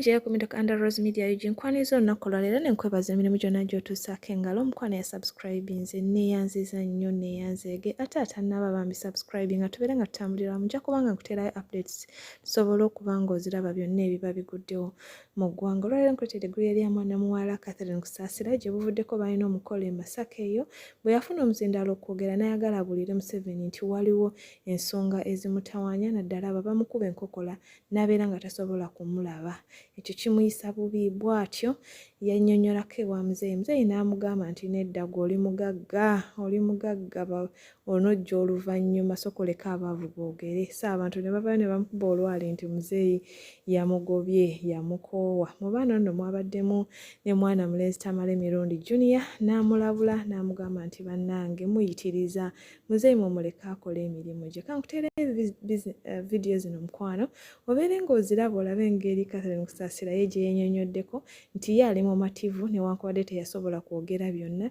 njeyo ku middle under rose media ug nkwaniza olunaku olwaleero ne nkwebaza emirimu gyonna gy'otuusaako engalo omukwano ya subscribinze neeyanziza nnyo neeyanzeege ate atannaba bambi subscribing nga tubeere nga tutambulira wamu nja kubanga nkuteerayo updates tusobole okuba ng'oziraba byonna ebiba biguddewo Mu ggwanga olwaleero nkuleetera eggulire lya mwana muwala Catherine Kusaasira gye buvuddeko balina omukolo e Masaka eyo bwe yafuna omuzindaalo okwogera n'ayagala abuulire Museveni nti waliwo ensonga ezimutawaanya naddala abo abamukuba enkokola n'abeera nga tasobola kumulaba ekyo kimuyisa bubi bw'atyo yannyonnyolako ewa muzeeyi muzeeyi n'amugamba nti nedda gwe oli mugagga oli mugagga onojja oluvannyuma sokoleka abaavu boogere so abantu ne bavayo ne bamukuba olwali nti muzeeyi yamugobye yamukoowa mu baana nno mwabaddemu ne mwana mulenzi tamale mirundi junior n'amulabula n'amugamba nti bannange muyitiriza muzeeyi mumuleka akola emirimu gye kankuteera eh, vidiyo zino mukwano obeere ng'oziraba olabe engeri katherine kusaasira ye gye yenyonyoddeko nti ye ali mumativu newankubadde teyasobola kwogera byonna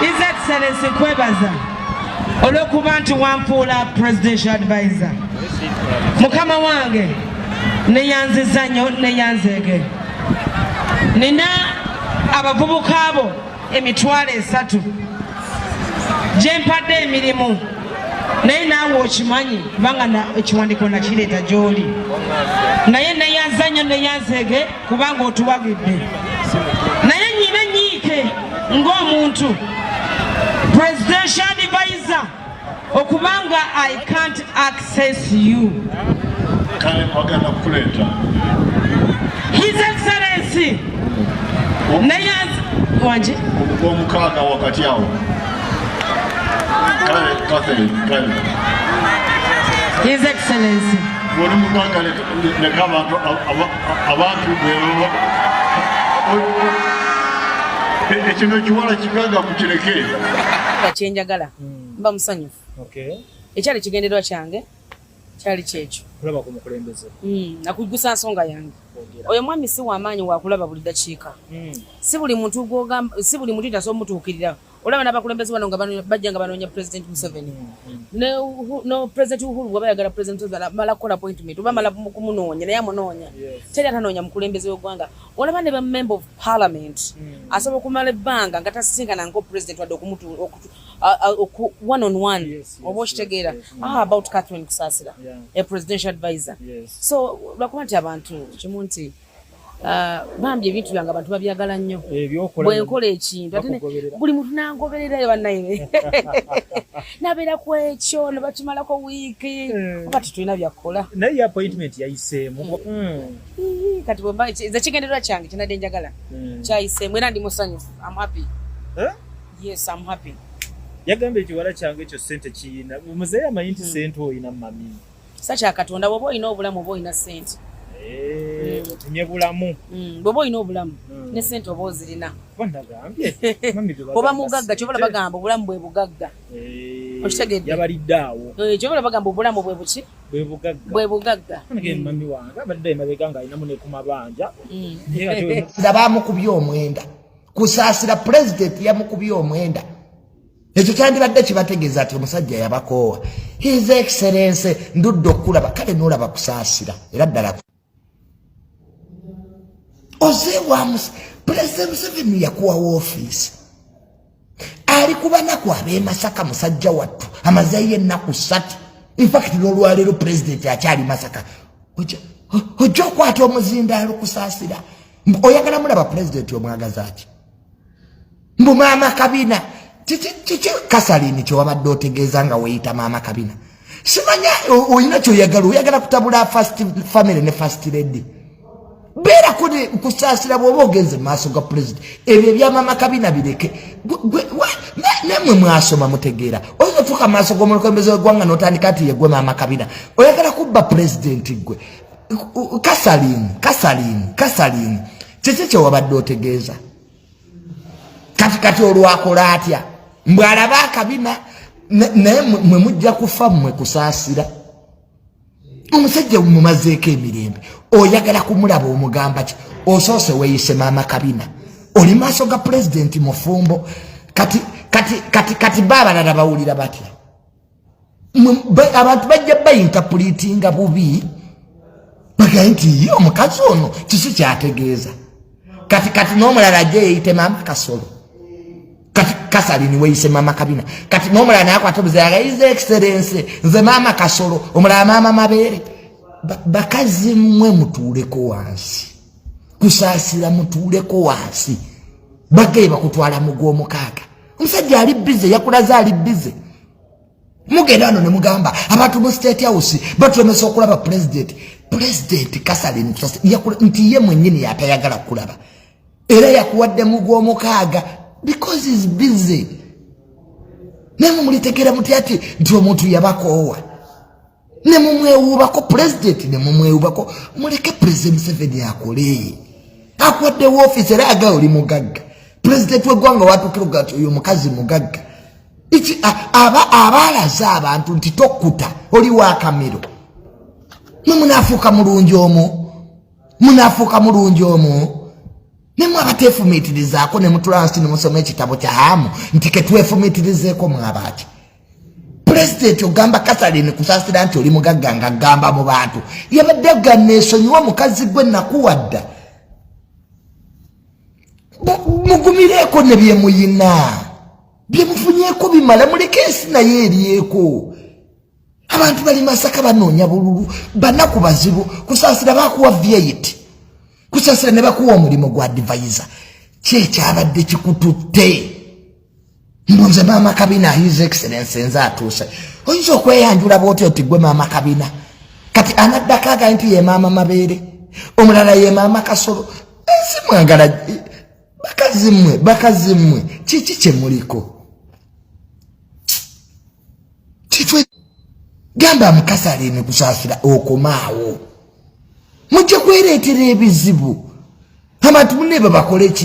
His Excellency kwebaza olw'okuba nti wampuula presidential advisor mukama wange neyanziza nnyo neyanzeege nina abavubuka abo emitwalo esatu gyempadde emirimu naye naawe okimanyi kubanga ekiwandiiko nakireeta gy'oli naye neyanza nnyo neyanzeege kubanga otuwagidde naye nyina enyiike ng'omuntu presidential advisor okubanga i can't access you kale kwagenda kukuleeta his excellency naye wanje omukaaga wakati awo kale katherine kale his excellency abantu bwebaba ekino ekiwala kikaga mukireke kyenjagala mba musanyufu ekyali kigenderwa kyange kyali kyekyo kulaba ku mukulembeze hmm, nakujjusa nsonga yange oyo mwami si wamaanyi wakulaba buli dakiika hmm. si buli muntu gwogamba si buli muntu tasobola omutuukirira olaba n'abakulembeze bano nga bajja nga banoonya president museveni no president uhuru bwaba yagala president mala kukola appointment oba mala kumunoonya naye amunoonya teri atanoonya mukulembeze w'eggwanga olaba ne ba member of parliament hmm. asobola okumala ebbanga nga tasisinkana nko president wadde okumutu one on one oba okitegeera ah, about catherine kusasira a presidential advisor so lwakuba nti abantu kimu nti Ah, bambi ebintu byange abantu babyagala nnyo eh, bwenkola ekintu ate buli muntu nangobererayo banaye nabeera ku ekyo nebakimalako wiiki eh. oba tetulina byakukola naye appointment yayiseemu hmm. kati bwemba nze kigendererwa kyange kinadde njagala hmm. kyayiseemu era ndi musanyufu am happy eh? yes am happy yagamba ekiwala kyange ekyo sente kiyina muzeeyi amanyi nti hmm. sente oyina mami kisa kya katonda bwoba olina obulamu oba olina sente eh, mm. otumye bulamu mm, bwoba olina obulamu mm. ne sente oba ozirina oba mugagga kyobola bagamba obulamu bwe bugagga eh, okitegedde eh, kyobola bagamba obulamu bwe buki bwe bugagga nga bamukubye omwenda kusaasira pulezidenti yamukubye omwenda ekyo kyandibadde kibategeeza nti omusajja yabakoowa his excellence ndudde okukulaba kale nolaba kusaasira era ddala oze wa pulezidenti museveni yakuwa woofiisi ali ku banaku ab'emasaka musajja wattu amazeeyo ennaku ssatu infakiti n'olwaleero pulezidenti akyali masaka ojja okwata omuzindaalo kusaasira oyagala mulaba pulezidenti omwagazaaki mbu maama kabina kiki kasalini kyewabadde otegeeza nga weyita maama kabina simanya olina kyoyagala oyagala kutabula fast family ne fast lady beera kusaasira bwoba ogenze mumaaso ga pulezidenti ebyo ebyamama kabina bireke namwe mwasoma mutegeera oyinza otuuka mumaaso gomulukombezi wegwanga notandika nti yegwe maama kabina oyagala kubba pulezidenti gwe kasalini kasalini kasalini kiki kyewabadde otegeeza kati kati olwakola atya mbwe alaba akabina naye mwe mujja kufa mmwe kusaasira omusajja mumazeeko emirembe oyagala kumulaba omugamba ki osoose weyise maama kabina oli maaso ga pulezidenti mufumbo kati kati kati kati baabalala bawulira batya abantu bajja bayintapulitinga bubi bagaye nti ye omukazi ono kiki kyategeeza kati kati n'omulala ajja yeyite maama kasolo kati kasalini weyise maama kabina kati n'omulala naye akwata obuzayaga ize ekiserense nze maama kasolo omulala maama mabeere bakazi mmwe mutuuleko wansi kusaasira mutuuleko wansi bagaye bakutwala mu gw'omukaaga omusajja ali bize yakulaze ali bize mugenda wano ne mugamba abantu mu state house batulemesa okulaba pulezidenti pulezidenti kasalin nti ye mwenyini yatayagala kulaba era yakuwadde mu gw'omukaaga because is bize naye mumulitegeera muti ati nti omuntu yabakoowa ne mumwewuubako pulezidenti ne mumwewuubako muleke pulezidenti museveni akolee akuwadde wofiisi era aga oli mugagga pulezidenti wegwanga watukiruga ti oyo mukazi mugagga iki aba abalaze abantu nti tokuta oli wakamiro mwe munafuuka mulungi omu munafuuka mulungi omu nemwe abatefumiitirizaako ne mutula nsi ne musoma ekitabo kya hamu nti ketwefumiitirizeeko mwabaaki pulezidenti ogamba kathalin kusasira nti oli mugagga nga gamba mu bantu yabadde agamba esonyiwa mukazi gwe nakuwadda mugumireeko ne byemuyina byemufunyeeko bimala muleke ensi naye eryeko abantu bali masaka banoonya bululu banaku bazibu kusasira bakuwa vyeit kusasira ne bakuwa omulimu gwa divayiza kyekyabadde kikututte mbu nze maama kabina his excellence nze atuuse oyinza okweyanjula bwoti oti gwe maama kabina kati anaddako agai nti ye maama mabeere omulala ye maama kasolo ensi mwagala bakazi mmwe bakazi mmwe kiki kye muliko kitwe gamba amukazi aliini kusaasira okomaawo mujja kwereetera ebizibu abantu munne babakoleki